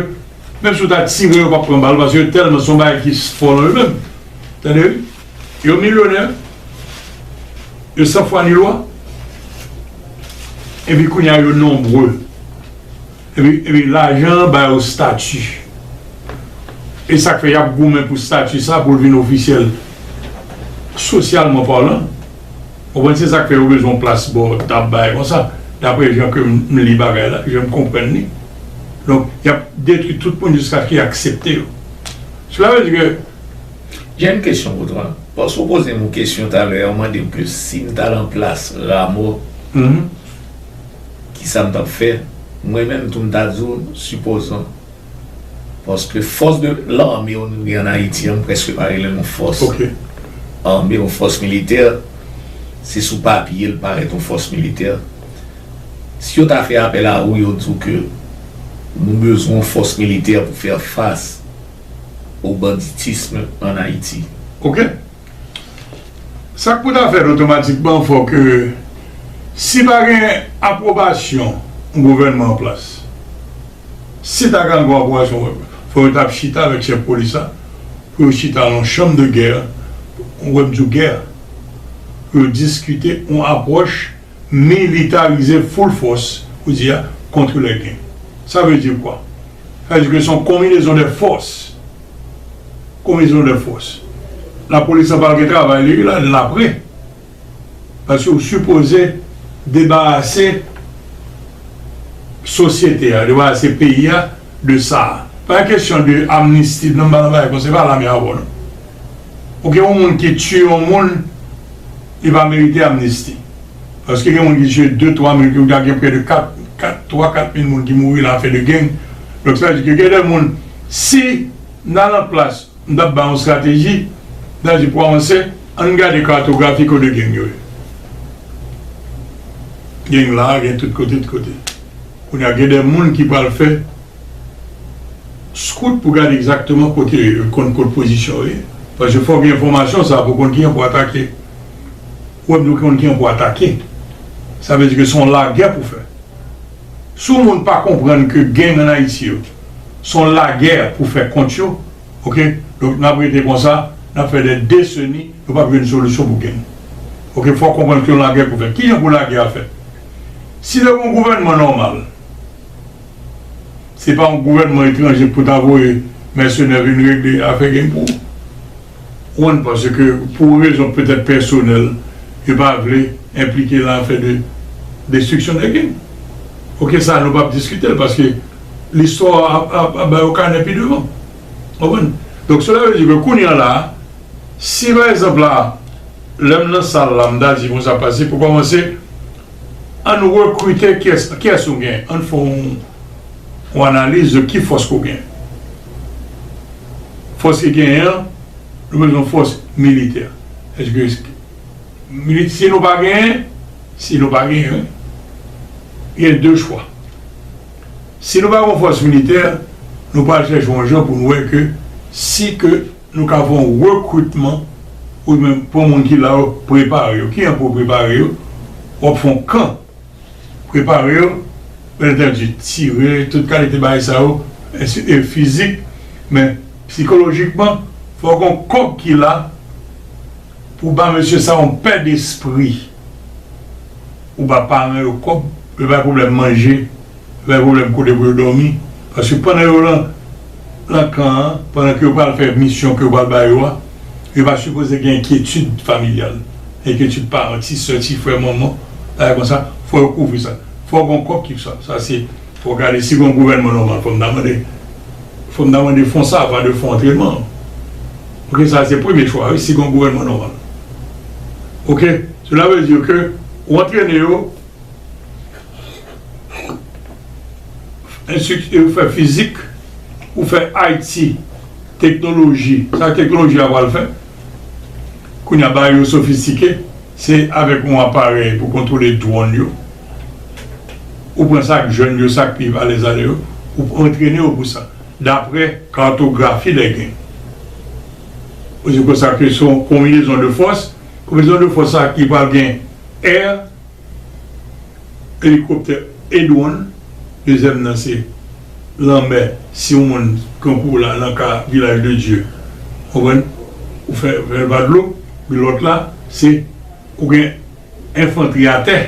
menm si ou ta tire yo pa p pran bal paske yo tèlman se yon bagay ki fò nan yo menm. Tande wi. Yo milyonè, yo san fwa ni lwa, epi kounye a yo nonbre, epi lajan an ba yo stati. E sa k fè y ap goumen pou stati sa a pou l vin ofisyèl, sosyalman palan. Ou konprann? Se sa k fè yo bezwen yon plas bò tab bagay kon sa, dapre jan ke m li bagay la, jan m konprann li. Donk, y ap detwi tout moun jiskaske y aksepte yo. Sela vle di ke. J'ai une question pour toi paske ou pozem yon kesyon talè a ou mandem ke sim ta lan plas Ramo kisam tap fè mwen menm tou mta diw sipozan paske fòs de lame nou gen an Ayiti an mpreske pa relel yon fòs ame yon fòs militè se sou papye li parèt yon fòs militè si yo ta fè apèl a ou yo diw ke nou bezwen yon fòs militè pou fè fas. au banditisme en Haïti. Ok. Sa k pou ta fèt otomatikman fò ke si pa gen apwobasyon yon gouvènman an plas, si ta ka gen apwobasyon fò yo ta chita avèk chèf polis la pou yo chita nan yon chanm de gè, wè m di w gè, pou yo diskite yon apwòch. Militarize full fòs ou di a kontre lè gen. Sa vle di kwa? Sa vle di ke son konminezon dè fòs. Konminezon dè fòs. La polis la pral gen travay li la dan apre. Paske ou sipoze debarase sosyete a, debarase peyi a de sa a. Pa gen kesyon de amnisti nan ba nan bagay konsa. Se pa lame a wò non. Pou gen yon moun ki tiye yon moun li pa merite amnisti paske gen moun ki tiye 2 3 moun ki gen prè de 4 4 3 4 mil moun ki mouri nan afè de gang donk sa vle di ke gen de moun si nan lòt plas m tap bay yon strateji m ta di pou avanse ann gade kartografi kote gang yo ye gang la gen tout kote tout kote kounya gen de moun ki pral fè Scout pou gade egzakteman kote konn kot pozisyon yo ye paske fòk gen enfòmasyon sa pou konn kijan pou atake wè pou konn kijan pou atake sa vle di ke son lagè pou fè si yon moun pa konprann ke gang an ayiti yo son lagè pou fè kont yo ok donk nap rete konsa nap fè dè deseni nou pap jwenn solisyon pou gang ok fòk konprann ke yon lagè pou fè kijan pou lagè a fèt si te gon gouvènman nòmal. Se pa yon gouvènman etranje pou ta voye mèsenè vin regle afè gen pou Juan paske pou rezon petèt pèsonèl yo pa vle enplike lan afè de destriksyon de King. Ok sa nou pap diskite l paske listwa ap ba yo kanè pi devan. Ou konprann? Donk sela vle di ke kounye an la si pa egzanp la lè m nan sal la m ta di bon sa pase pou kòmanse Ann rekrite kiyès ou gen, ann fè yon analiz de ki fòs ke w gen. Fòs ki genyen an, nou bezwen fòs militè. Èske si nou pa genyen, si nou pa genyen wi, gen de chwa. Si nou pa gen yon fòs militè, nou pral chèche yon jan pou nou wè ke si ke Nou ka fè yon rekritman ou byen pran moun ki la yo prepare yo. Kijan pou w prepare yo? W ap fè yon kan prepare yo, byen antanji tire, tout kalite bagay sa yo, ensi e fizik men sikolojikman fò gen yon kòk ki la. Ou ba mesye sa yon pè despri ou ba paran yo kòb yo bay problèm manje yo bay problèm kote pou yo dòmi paske pandan yo lan lan kan an pandan ke yo pral fè misyon ke yo pral ba yo a yo pa sipoze gen enkyetid familyal enkyetid paran ti sè ti frè manman bagay konsa fò yo kouvri sa fò gon kòb ki pou sa sa se Fok gade si gon gouvènman nòmal fòm ta mande fòm ta mande fon sa pa de fon antrenman ok sa se premye chwa wi si gon gouvènman nòmal ok sela vle di ke ou antrene yo enstrikte yo fè fizik ou fè IT teknoloji sa teknoloji a pral fè kounya bagay yo sofistike. Se avèk yon aparèy pou kontwole dwòn yo, ou pran sa k jèn yo, sa k pi valè zale yo, ou antrene yo pou sa, dapre kartografi lè gen. Ou di konsa ke se yon konbinezon de fòs, konbinezon de fòs sa ki pral gen è, elikoptè e dwòn, dezyèm nan se lanmè si yon moun pran kou la nan ka vilaj de dye ou konprann ou fè fèl va dlo men lòt la se ou gen enfantri atè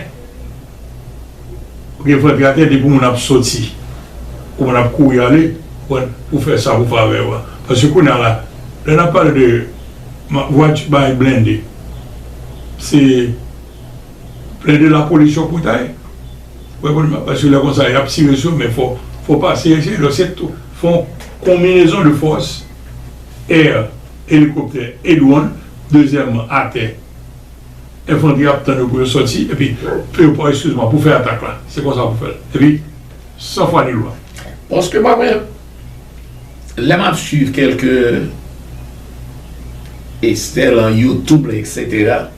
ou gen enfantri atè depi moun ap sòti ou moun ap kouri ale ou konprann pou fè sa pou favè ou a paske kounya la lè nap pale de vwati bagay blende se blende lapolis yo koutay. Wè bon map pase la konsa yap tire sou men fò fò pase eseye lò se to fon konminezon de fòs air elikoptè e dwon dezyèman atè enfantri ap tann yo pou yo sòti epi pou yo pò eskiz mwa pou fè atak la se konsa pou fèl epi san fwa ni lwa. Paske pa wè lè map swiv kèlke estè lan youtube la eksetera.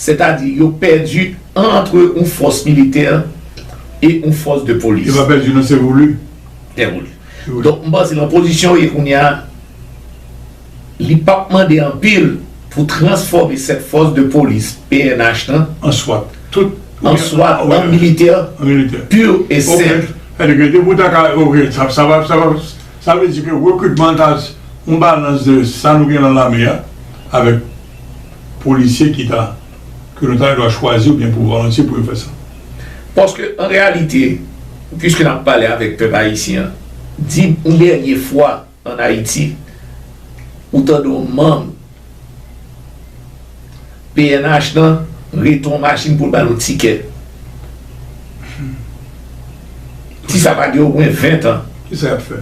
Sètadi yo pèdi antre yon fòs militè e yon fòs de polis. Yo pa pèdi non se voulu. Se voulu. Donk m panse nan pozisyon yo ye kounye a, li p ap mande anpil pou transfòme 7 fòs de polis pnh lan. An swat. Tout. An swat an militè. An militè. Pur et simple. Ok. Sètadi ke depi w ta ka ok sa sa pa sa pa sa vle di ke rekritman an ta yon balans de sa nou gen nan lame a avèk. polisye ki ta ke nou ta dwa chwazi oubyen pou volontye pou yo fè sa. Paske an reyalite, piske n ap pale avèk pèp ayisyen an, di m yon dènye fwa an Ayiti ou tande yon manm pnh nan rete yon machin pou l ba l yon tikè. Ti sa pa gen omwen ventan. Ki sa y ap fè?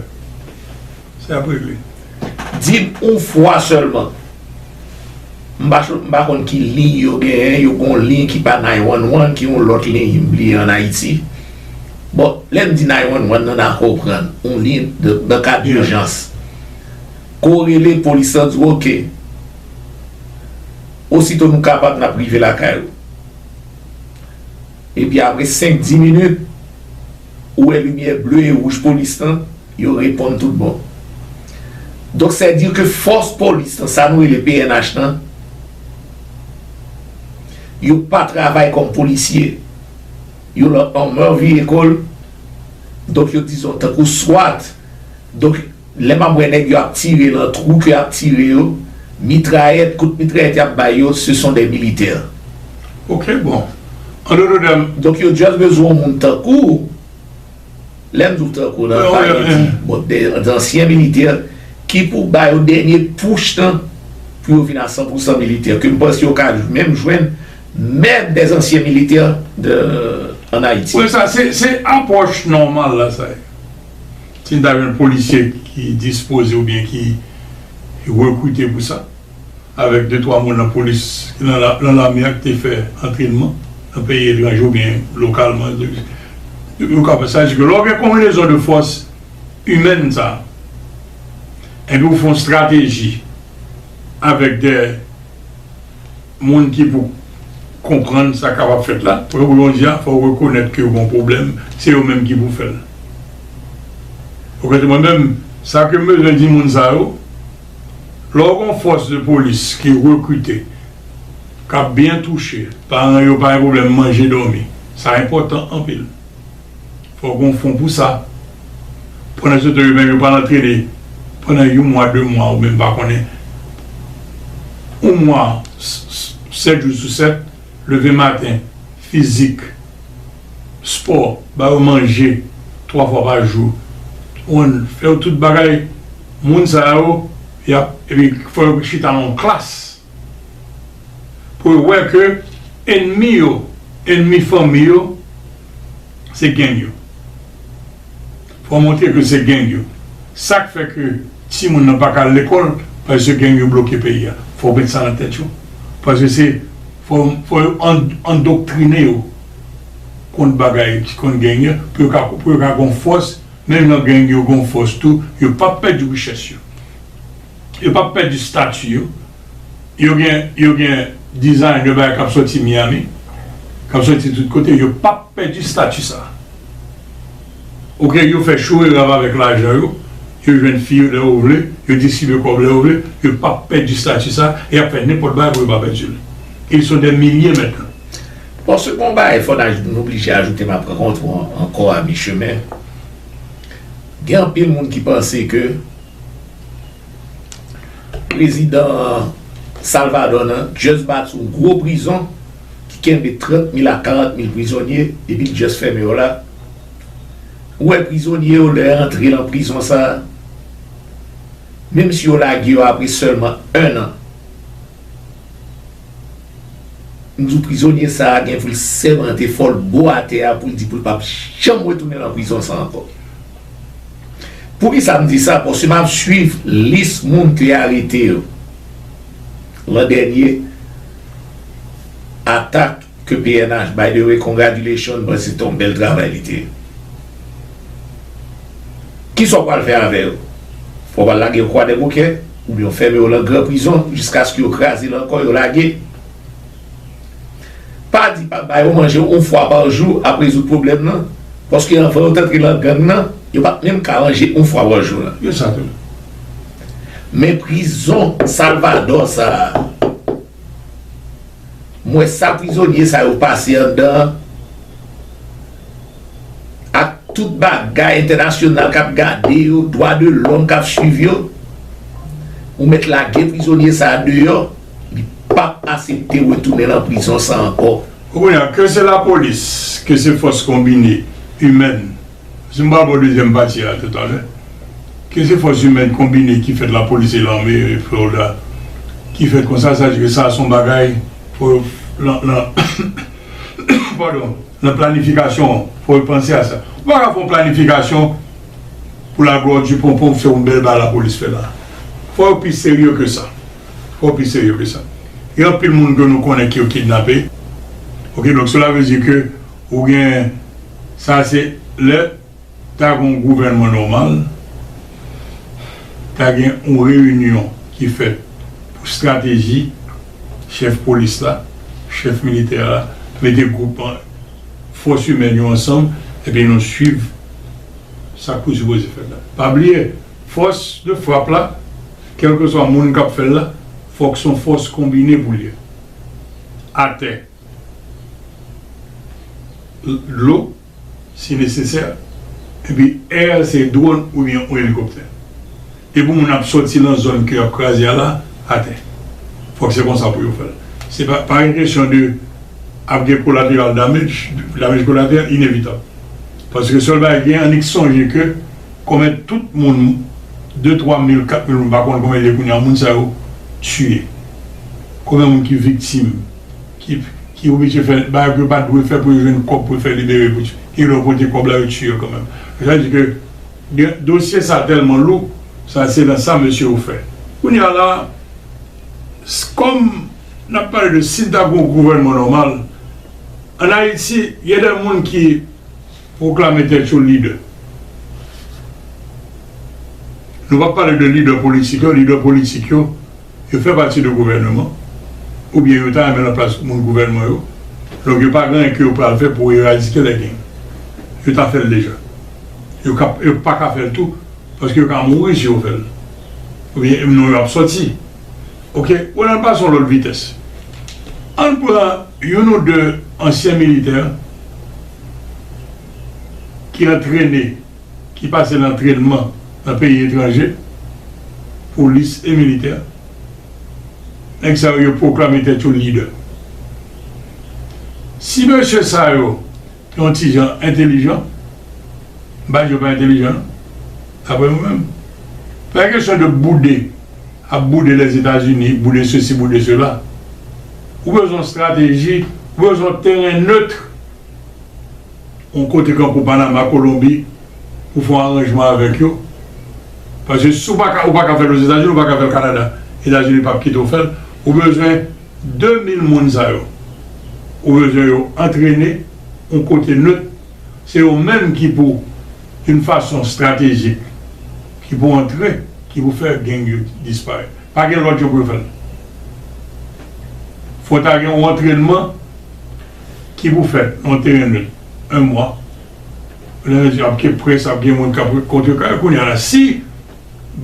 Se ap regle. Di m yon fwa sèlman. M pa m pa konn ki liy yo genyen, yo gen yon liy ki pa nine one one ki yon lòt liy m bliye an Ayiti. Bon, lè m di nine one one nan n a konprann, yon liy de nan ka dijans. Ke w rele polis lan di w ok. Osito nou kapab n ap rive lakay ou. Epi apre senk di minit, Ou wè limyè ble e wouj polis lan, yo reponn tout bon. Donk sè di ke fòs polis lan, sa nou rele pnh lan, yo pa travay kòm polisye. Yo lan anmèveye kò l, donk yo dizon tankou swat. Donk Lè map wè nèg yo ap tire lan trou ke yap tire yo, mitrayèt, kout mitrayèt yap bay yo, se son dè militè. Ok bon. An dodo dam. Donk yo just bezwen yon moun tankou w. Lè m di w tankou w lan, m pa vle di, bon, dè ansyen militè ki pou ba yo dènye push lan pou yo vin a san pou san militè, ke m panse yo ka menm jwenn mèb dè ansyen militè an Ayiti. Wi sa se, se apwòch nòmal la sa ye. Si n ta jwenn polisye ki dispoze oubyen ki rekrite pou sa, avèk de twa moun nan polis, nan lame a ki te fè antrenman nan peyi etranje oubyen lokalman, yo ka fè sa. Sa vle di ke lè w gen konbinezon de fòs imèn sa a, epi ou fè yon estrateji avèk de. Moun ki pou konprann sa kap ap fèt la. Pou yo bon Dieu a fòw rekonèt ke yo gon pwoblèm se yo menm ki pou fèl ou kote mwen menm sa kem bezwen di moun sa yo lèw gon fòs de polis ki rekrite kap byen touche paran yo pa gen pwoblèm manje dòmi sa enpòtan anpil. Fò gon fon pou sa. Pandan se te yo menm yo pral antrene pandan yon mwa 2 mwa ou menm pa konnen yon mwa 7 jou sou 7 leve maten fizik spò ba yo manje 3 fwa pa jou konprann fè yo tout bagay moun sa yo yap epi fò yo chita nan yon klas. pou yo wè ke ennmi yo, ennmi fanmi yo se gang yo. Fò montre ke se gang yo. Sak fè ke timoun nan paka al lekòl paske gang yo bloke peyi a. Fò w met sa nan tèt yo. Paske se fò yo andoktrine yo kont bagay, kont gang yo pou yo ka pou yo ka gon fòs menm nan gang yo gon fòs tou yo pap pèdi richès yo. Yo pap pèdi stati yo. Yo gen yo gen designer bagay kap soti Miami, kap soti tout kote yo pap pèdi stati sa. Ok yo fè cho e rav avèk lajan yo, yo jwenn fi yo lè yo vle, yo distribye kòb lè yo vle, yo pap pèdi stati sa e yap fè nenpòt bagay pou yo pa pèdi l. Ils sont des milliers maintenant. Bon se gon bagay fò n aj n oblije ajoute map rankontre w ankò a mi chemen. Gen anpil moun ki panse ke. Prezidan Salvadò nan just bati yon gwo prizon ki kenbe 30 mil a 40 mil prizonye epi li just fèmen yo la. Ou wè prizonye yo lè yo antre lan prizon sa a, menm si yo lage yo apre sèlman 1 an, M di w prizonye sa a gen pou l sèmante fò l bo atè a pou l di pou l pap janm retounen lan prizon sa ankò. Poukisa m di sa paske map swiv lis moun te arete yo lan dènye atak. Ke pnh by the way congratulations bro se te yon bèl travay li te ye kisa ou pral fè avè yo ou pral lage yo kwadèboukè oubyen ou fèmen yo lan gran prizon jiskaske yo kraze lan kò yo lage pa di pa bayo manje yon fwa par jou ap rezoud pwoblèm lan paske anvan yo t antre lan gang lan yo pat menm ka manje yon fwa par jou lan yo sa tou men prizon salvadò sa. M wè sa prizonye sa yo pase andan an ak tout bagay entènasyonal k ap gade yo, dwa de lòm k ap swiv yo. Ou mèt lage prizonye sa a deyò, li p ap asepte retounen lan prizon sa ankò. Kounye a, ke se lapolis, ke se fòs konbine, imèn, Si nou pa pran dezyèm pati a tout alè, ke se fòs imèn konbine ki fèt lapolis e lame Florida ki fèt konsa, sa vle di ke sa son bagay fò yo lan padon lan planifikasyon an fò yo panse a sa. Ou pa ka fè yon planifikasyon pou la glwa di ponpon pou fè yon bèl bagay lapolis fè la. Fò yo pi serye ke sa. Fò yo pi serye ke sa. Gen anpil moun ke nou konnen ke yo kidnape. Ok donk sela vle di ke ou gen. Sa se lè ta gen yon gouvènman nòmal, ta gen yon reyinyon ki fèt pou strateji, chèf polis la, chèf militè a mete gwoup fòs imèn yo ansanm epi nou swiv sa k pou sipoze fèt la. Pa bliye fòs de frap la, kèlkeswa moun k ap fè l la, fòk s on fòs konbine pou l ye. Atè. dlo si nesesè epi air se dwòn oubyen yon elikoptè e pou moun ap sòti nan zòn ke yap kraze a la atè fòk se konsa pou yo fèl se pa pa gen kesyon de ap gen kolateral damage damage kolateral inevitab paske sèl bagay ki gen annik sonje ke konbyen tout moun de twa mil kat mil moun m pa konn konbyen l ye kounya moun sa yo tiye konbyen moun ki viktim. ki oblije fè bagay pou yo pat dwe fè pou yo jwenn kòb pou yo fè libere pou gen lè yo konte kòb la yo tiye yo kanmèm sa vle di ke dosye sa tèlman lou sa se nan sa mesye yo fè kounye a la kòm nap pale de si ta gen yon gouvènman nòmal an ayiti gen de moun ki pwoklame tèt yo lidè nou pap pale de lidè politik yo lidè politik yo. Yo fè pati de gouvèneman, oubyen yo ta renmen nan plas moun gouvènman yo, donk yo pa gen anyen ke yo pral fè pou eradike lè geng. Yo ta fè l deja. Yo ka, yo pa ka fè l tou, paske yo ka mouri si yo fè l. Oubyen m non yo ap sòti. Ok, ou wè nan pase yon lòt vitès. An n pran youn ou de ansyen militè ki antrene. ki pase nan trennman nan peyi etranje, polis e militè, nèg sa yo yo pwoklame tèt yo lidè. Si mesye sa yo te yon ti jan entelijan, m pa di yo pa entelijan non, daprè nou menm, pa kesyon de boude, ap boude Lèzetazini, boude sesi, boude sela, ou bezwen yon strateji, ou bezwen yon teren neutre. yon kote kankou Panama, Kolonbi pou fon aranjman avèk yo paske si ou paka ou paka fèl Ozetazini ou paka fèl Kanada Etazini pap kite ou fèl ou bezwen 2000 moun sa yo ou bezwen yo antrene yon kote neut se yo menm ki pou yon fason stratejik ki pou antre ki pou fè gang yo disparèt pa gen lòt jan pou yo fèl fò ta gen yon antrènman. Ki pou fèt mwen te renmen l 1 mwa lè nèg yo ap ke près ap gen moun kap kontrekare kounya la si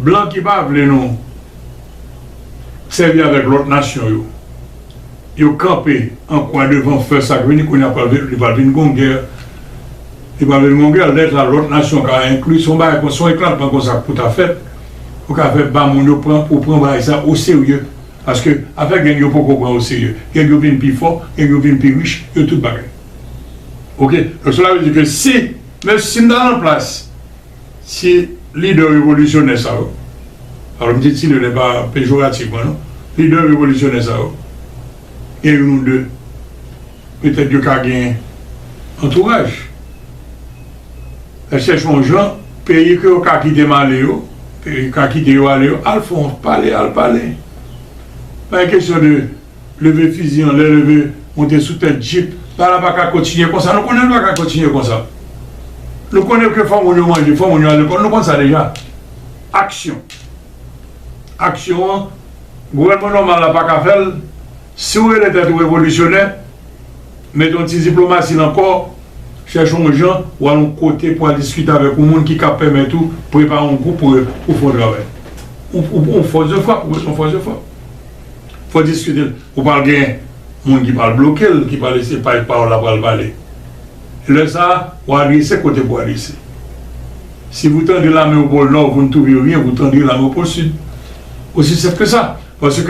blan ki pa vle nou sèvi avèk lòt nasyon yo yo kanpe an kwa devan fè sak vini kounya pral vin li pral vin gon gè li pral vin gon gè lè sa lòt nasyon ka enkli son bagay kon son eklatan konsa k pou ta fèt pou ka fè ba moun yo pran pou pran bagay sa oserye. Paske afè gang yo poko pran o serye. Gang yo vin pi fò, gang yo vin pi rich, yo tout bagay. Ok, donk sela vle di ke si, menm si m ta nan plas ti lidè revolisyonè sa yo, alò m di ti lidè pa pejorativman non, lidè revolisyonè sa yo, gen youn ou de, petèt yo ka gen antouraj. Yo chèche yon jan peyi ke yo ka kite m ale yo, ka kite yo ale yo al fè yon pale al pale. Pa gen kesyon de leve fizi anlè, leve monte sou tèt jip. Sa la pa ka kontinye konsa. Nou konnen li pa ka kontinye konsa. Nou konnen ke fò moun yo manje, fò moun yo al lekòl. Nou konn sa deja. Aksyon. Aksyon an, gouvènman nòmal la pa ka fè l. Si w rele tèt ou revolisyonè, mete yon ti diplomasi nan kò w, chèche yon jan pou w al yon kote pou w al diskite avèk yon moun ki kab pèmèt ou prepare yon gwoup pou ou fè yon travay. Yon fòs de fwap, ou bezwen yon fòs de fwap. Fò w diskite l. Ou pral gen moun ki pral bloke l, ki pral eseye pale pawòl la pral pale. Lè sa a, w a adrese kote pou w adrese. Si vou tandre lame o pol Nò, vou n touve ryen, vou tandre lame o pol Sid. Osi senp ke sa. Paske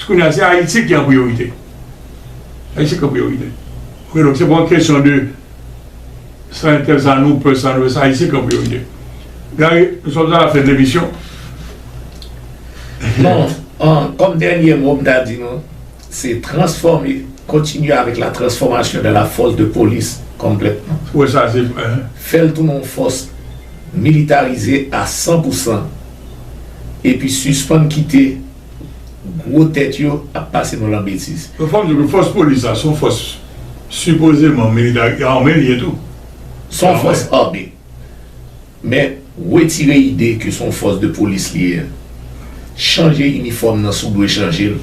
kounye a se Ayiti ki an priyorite. Ayiti ki an priyorite. Ok donk se pa yon kesyon de san entèl sa nou pè san nou pè se Ayiti ki an priyorite. Gary nou sòt a la fen de lemisyon. Bon kòm dènye mo m ta di nou se transfòme kontinye avèk la transfòmasyon de la fòs de polis konplètman. Ou wè sa se. Fè l tounen yon fòs militarize a san pou san. epi sispann kite gwo tèt yo ap pase nou lan betiz. Yo fè m di ke fòs polis la son fòs sipozeman militari, e ame li ye tou. Son fòs ame. Men, wetire ide ke son fòs de polis li ye a. Chanje inifòm nan si w dwe chanje l.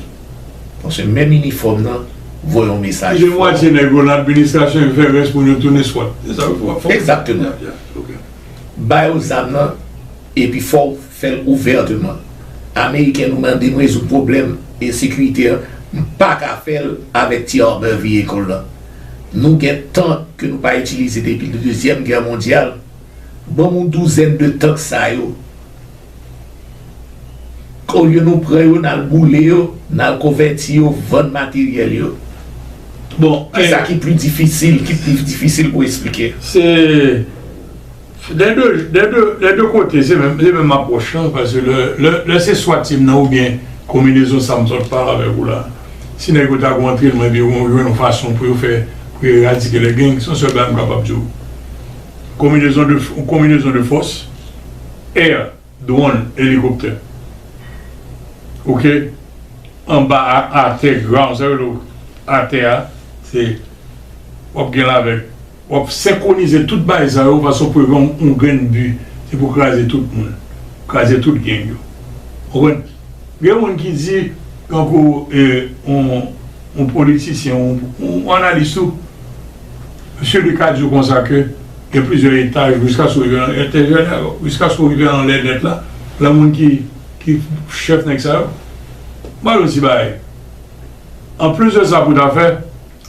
Paske menm inifòm nan voye yon mesaj fò. Kite mwatye nèg yo lan administrasyon e fè rès moun yo tounen swat. Se sa yo fè. Egzakteman. Bay yo zam nan. Epi fòw fèl ouvèteman. Ameriken nou mandem rezoud pwoblèm ensekirite an m paka fèl avèk ti arbor vehicle lan nou gen tank ke nou pa itilize depi dezyèm gè mondyal banm yon douzèn de tank sa yo olye nou pran yo nal boule yo nal konvèti yo vann materyèl yo bon sa ki pli difisil ki pli difisil pou esplike. Se. Dè de, dè de, dè de kote se menm, se menm apwòch lan pase lè, lè, lè se swa team nan oubyen konminezon sa m sot pale avèk ou la, si nèg yo ta gon antrenman epi yo gon, yo jwenn yon fason pou yo fè, pou yo eradike lè gangs, se yon sèl bagay m kapab di w, konminezon de, yon konminezon de fòs, air. Dwonn, elikoptè. Ok. Anba a, atè, ground. Sa yo rele atè a, se w ap gen lavèk. W ap senkwonize tout bagay sa yo fason pou yo gen yon grenn bi. Se pou kraze tout moun. Kraze tout geng yo. Ou konprann? Gen moun ki di, tankou yon politisyen, yon analis tou. Misye Luc a di w konsa ke gen plizyè etaj jiskaske w rive nan entèryè nèg yo, jiskaske w rive anlè nèt la, lan moun ki ki chèf nèg sa yo. M ba w yon ti bagay, anplis de sa pou w ta fè,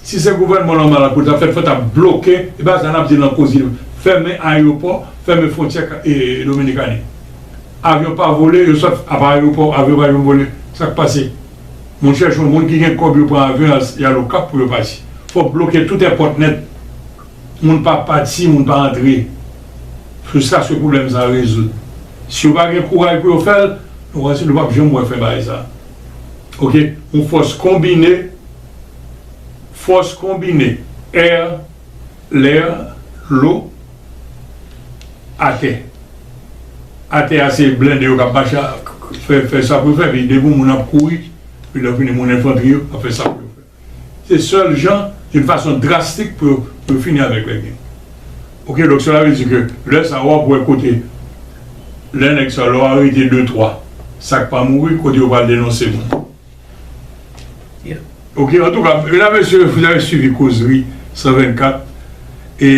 si se gouvènman nòmal la pou l ta fèt, fò w ta bloke, e ba sa n ap di lan koze yo, fèmen ayewopò, fèmen fwontyè Dominikani. Avyon pa vole, yo sòt, apa ayewopò, avyon pa janm vole, sa k pase? Moun chèch yon moun ki gen kòb yo pran avyon yal okap pou yo pati fòk bloke tout èpòt nèt moun pa pati moun pa antre sou sa se pwoblèm sa rezoud si yo pa gen kouraj pou yo fèl nou pral si nou pap janm wè fen bagay sa ok yon fòs konbine fòs konbine air. Lè, Lwo, Atè. Atè a se blende yo k ap mache ak fè sa pou yo fè, epi depi yon moun ap kouri, epi lè fini moun enfantri yo ap fè sa pou yo fè. Se sèl jan, yon fason drastik pou yo fini avèk nèg yo. Ok, donk sela vle di ke lè sa w ap wè kote lè nèg sa lè w arete de twa sa k pa mouri kote yo pral denonse moun. Ok antouka medam mesye vous avez suivi kozri 124 e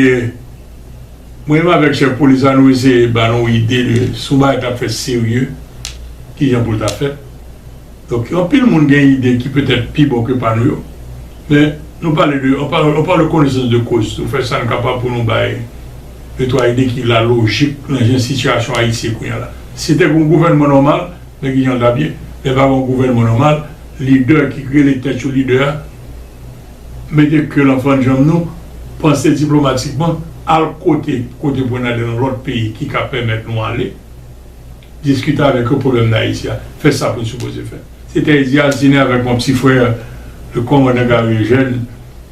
mwen menm avèk chèf polis la nou eseye ba nou ide de si yon bagay ta fèt serye kijan pou l ta fèt donk anpil moun gen ide ki petèt pi bon ke pa nou yo men nou pale de on parle de connaissance de cause nou fè sa nou kapab pou nou bay de twa ide ki la lojik nan jan sitiyasyon Ayiti ye kounya la si te gen yon gouvènman nòmal. Men ki jan l t ap ye, lè pa gen yon gouvènman nòmal, lidè ki rele tèt yo lidè a mete ke l anfan djanm nou, panse diplomatikman, al kote kote pou n ale nan lòt peyi ki ka pèmèt nou ale diskite avèk yo pwoblèm Dayiti a, fè sa pou n sipoze fè. Se te Eddy Altine avèk mwen, pti frè Kòmandan Gari Ejèn.